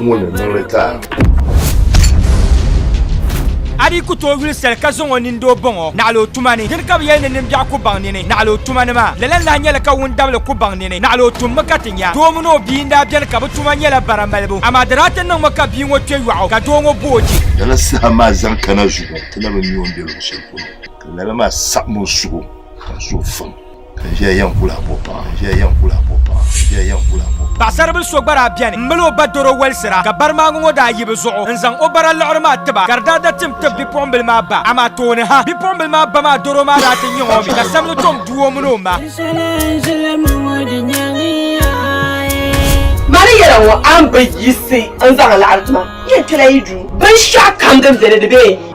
ŋɔ ni niŋdi ka. A di ku tooi yuli sali ka zaŋ o nini doo baŋ o naɣila o tuma ni. Dini ka bi yɛli ni nimbiɛɣu ku baŋ nini naɣila o tuma ni maa? Lala n-lahi nyɛli ka wundabili ku baŋ nini naɣila o tummi ka ti nya. Doo mini o bia n-daa beni ka bɛ tuma nyɛla bara malibu, amaa di daa ti niŋmi ka bia ŋɔ kpe yɔɣu ka doo ŋɔ bo o je. Lala saha maa zaŋ kana zuɣu ti labi n-nya o ni be luɣ shɛli polo, ka lala maa saɣim o suhu ka n suhu fam. Paɣasaribili so gba daa beni m mali o ba doro walisira ka barimaaŋa ŋɔ daa yibi zuɣu n zaŋ o bara liɣiri maa tiba ka di daa da tim tib bipuɣimbila maa ba amaa tooni ha bipuɣimbila maa ba maa doro maa daa ti nyaŋ o mi ka sammi tom du o mini o ma. Mani yɛla ŋɔ a ni bi yiɣisi n zaŋ laɣiri ti ma n yɛn kpɛla yi duu binshɛɣu kam din beni di bee n yi.